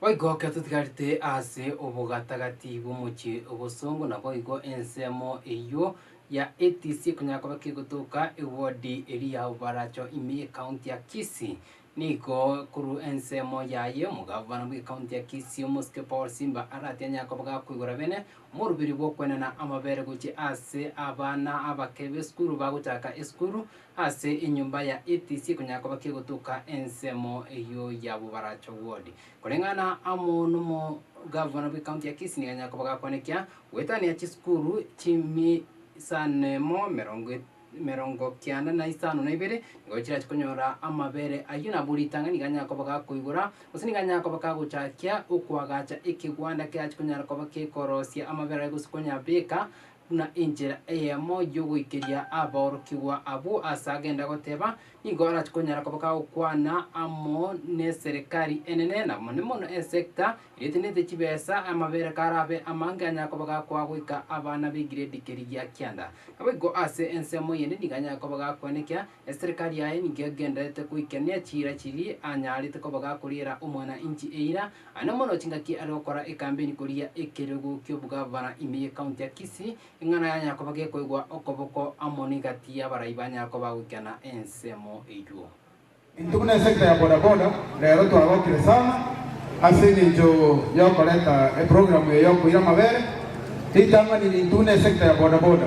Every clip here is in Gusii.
Boigo ekero totigarete ase obogatagati bw'omochie obosongo, naboigo ensemo eyio ya ATC ekonyara koba kegotoka ewodi eria ya Oboracho ime ye county ya Kisii. Nigo korwa ensemo yaye omogabana bwe county ya Kisii omosike Paul Simba arati anyare koba gakoigora bene omoruberi bw'okwenena amabere gochia ase abana abake b'esukuru bagochaka esukuru, Ase enyomba ya ETC ekonyara koba kegotoka ensemo eyio ya Bobaracho Ward. Koreng'ana amo nomogavana bw'ekaunti ya Kisii nigo anyara koba gakwanekia goetania chisukuru chimisanemo merongo e merongo kianda na isano na ibere nigo chirache konyora amabere ayio nabo ritang'ani nigo anyara koba gakoigora gose nigo anyara koba kagochakia okoagacha ekegwanda kerache konyara koba kekorosia amabere ayio gose konya beka Buna enchera eyemo y'ogoikeria aborokigwa abwo aase agenda goteba, nigo arache konyara koba kagokwana amo n'eserekari enene, na mono mono esecta eria etenenete chibesa, amabere karabe amange anyare koba gakoa goika abana b'egiredi keria gia kianda. Naboigo aase ensemo eyende nigo anyare koba gakwenekia Eserikari yaye nigo egendererete goikenia chiira chiria anyarete koba gakoriera omwana inchi eira, aye nomorwoti ngaki are gokora ekambeni koria ekerogo ki'obogavana ime y'ekaunti ya Kisii, eng'ana yanyara koba gekoigwa okoboko amo negati y'abarai banyara koba goikana ensemo eywo. Intwe buna esekta ya bodaboda rero twagokire sana ase engencho yokoreta eprogramu eye yokoira amabere. Ritang'ani, intwe buna esekta ya bodaboda.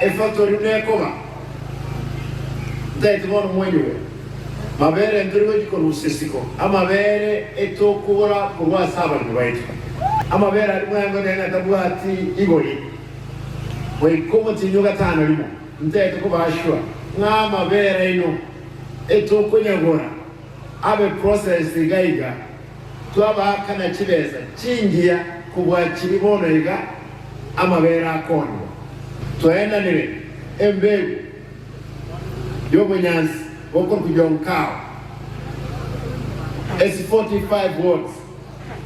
Efaktori nekoba ntaeti bono mwenyure mabere ntore gochi korusia isiko, amabere etokogora korwa ase abaremi baito, amabere aria mweangote ng'a tabwati igori goika omotienyi o gatano rimo, ntaeti kobaa sure ng'a amabere aino etokonyagora abe processed iga iga. Twabaakana chibesa chingiya kobua chibi bono iga amabeere akoonwa. Twaenanire embegu y'obonyansi bokorokwa Jonkao, ase 45 wards.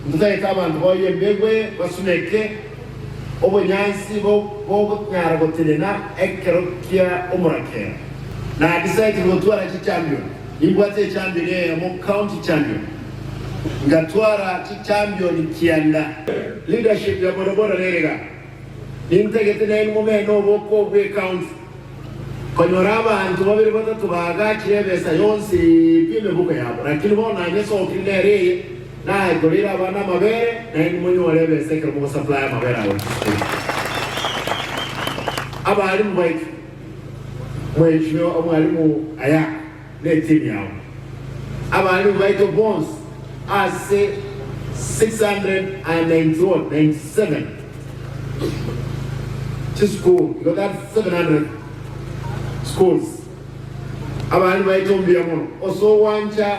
Ntotagete abanto baoye embegu eye basuneke obonyansi bogonyara gotenena ekero kia omorakera. Naki saitire gotwara chichampioni. Nibwate echambio eyemo County Champion, ngatwara chichambioni kianda. Leadership ya bono borore iga, nintagete naende momena oboko bwe County konyora abanto babere batato bagachire ebesa yonsi pi emebuko yabo, lakini bono nanyesokire nere eye naye koreire abana amabere naende monyore ebesa ekero mogosupply amabere ago chisukuru. Abalimu baito. Mwaechi omwalimu aya netiimi yao. Abalimu baito bonsi ase 697 chisukuru igo that's 700 schools abalimu baito mbuya mono ase ogwancha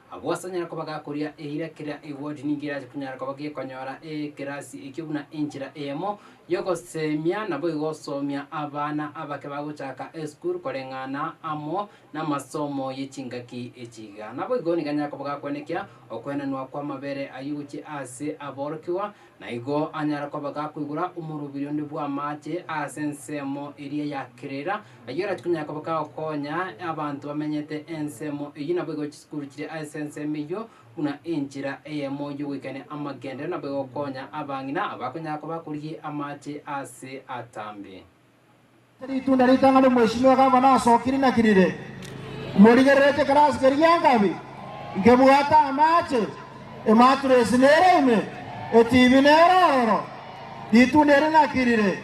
Agwo asanyare koba gakoria eira keria egoti ninki erache kunyara koba gekonyora ekerasi ekio buna enchera eyemo yogosemia naboigo osomia abana abake bagochaka esukuru koreng'ana amo namasomo ye chingaki echiga. Naboigo nigo anyare koba gakwenekia okoenanwa kwamabere ayio gochia ase aborokigwa, Na igo anyare koba gakoigora omoroberio onde bw'amache ase ensemo eria ya Kerera, ayio orache konyara koba gagokonya abanto bamenyete ensemo eyio, naboigo chisukuru chiria ase ensemo eyio buna enchera eyemo y'ogoikania amagenderero, naboigo gokonya abang'ina abakonyara koba bakorigia amache ase atambe. Ritunda ritang'ani Omweshimiwa Gavana asokiri naki rire? Morigererete kare ase keria nkabi, nkebwate amache, ematuresi nere ime, etibi nere ororo. Ritunda eri naki rire?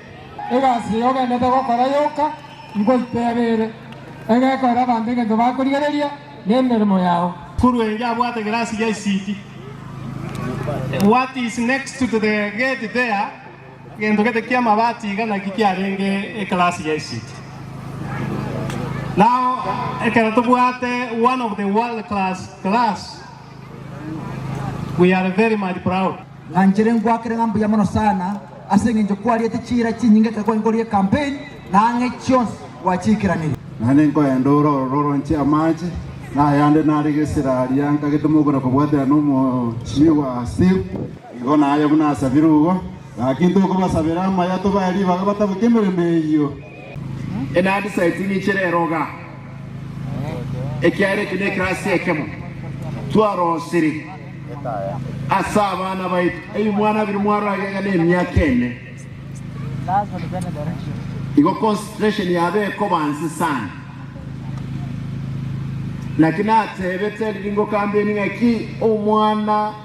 Egasi eye ogenderete gokora yoka, nkoiteebe ere, enga ekorera abanto egento bakorigereria, nemeremo yao. Korwa engiya abwate egerasi gia isiki. What is next to the gate there? Egento gete ki'amabati iga naki kiarenge eklasi ya esiti. Nao ekero tobwate one of the world class class, we are very much proud. Ng'anchere ngwakere ng'a mbuya mono sana ase engencho kwariete chiira chinyinge ekero kware nkorie campaign na ang'e chionsi gwachiikeraneria. Naende nkoenda ore orororonche amache, na ayande nare gesira aria nkagete mogwera kobwatera n'omochie bwa Steve. Nigo naye buna asabire obo, gaki ntokobasabera amaya tobae ribaga bataboke emeremo eyio. Enandi saa itiini ichire eroga, ekiagera eke nekerasi ekemo twarosire ase abana baito, ebimwana biri mwarage iga nemiaka ene, igo concentration yabo ekoba nse sana. Naki natebete riringokambeni ng'aki omwana.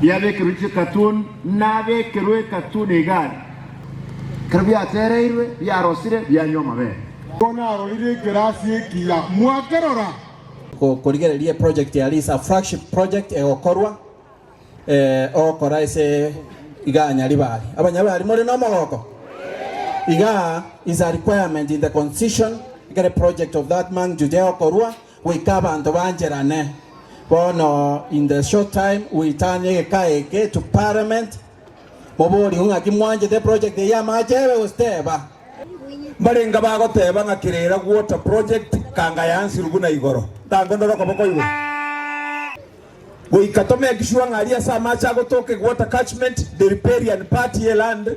Biabekerwe chikatuni, nabekerwe ekatuni igare. Ekero biatereirwe, biarosire, bianywa amabere. Nigo narorire ekerasi ekiya mwakerora. Gokorigereria eproject ya Liz a flagship project egokorwa ogokora ase igaa Nyaribari. Abanyaribari more nomogoko? Igaa is a requirement in the constitution ekere project of that magnitude egokorwa Goika abanto bancherane. Bono in the short time goitana egeka eke to parliament moborigwe ng'aki mwanchete eproject eye y'amache ebe gose teba. Mbarenga bagoteba ng'a Kirera Water Project kanga yansirwe buna igoro. Ntango ndore okoboko igoro. Goika to make sure ng'a aria ase amache agotoka eg water catchment, the riparian part ye land,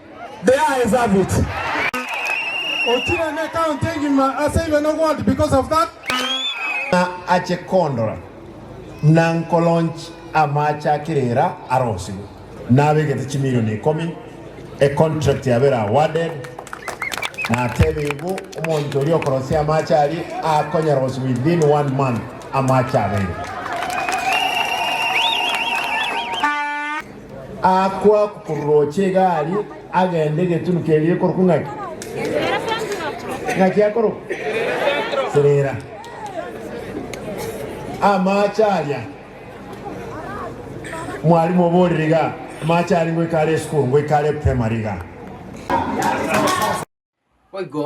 They are a service. Ochire ne county egima ase ibe no gold because of that. Ng'a ache kondora na nkolaunch amaache a kerera arosirwe nabegete chimilion ikomi, a contract yabere awarded, natebe igo omonto oria okorosia amaache aria akonyaroswa within one month amaache abeire. Aakwa korooche egari, agende egetunu keria ekorokwa ng'aki? Ng'aki akorokwa? Trela. Amache aria, mwalimu oborire iga, amache aria ngoika are esukuru, ngoika are primary iga. Boigo.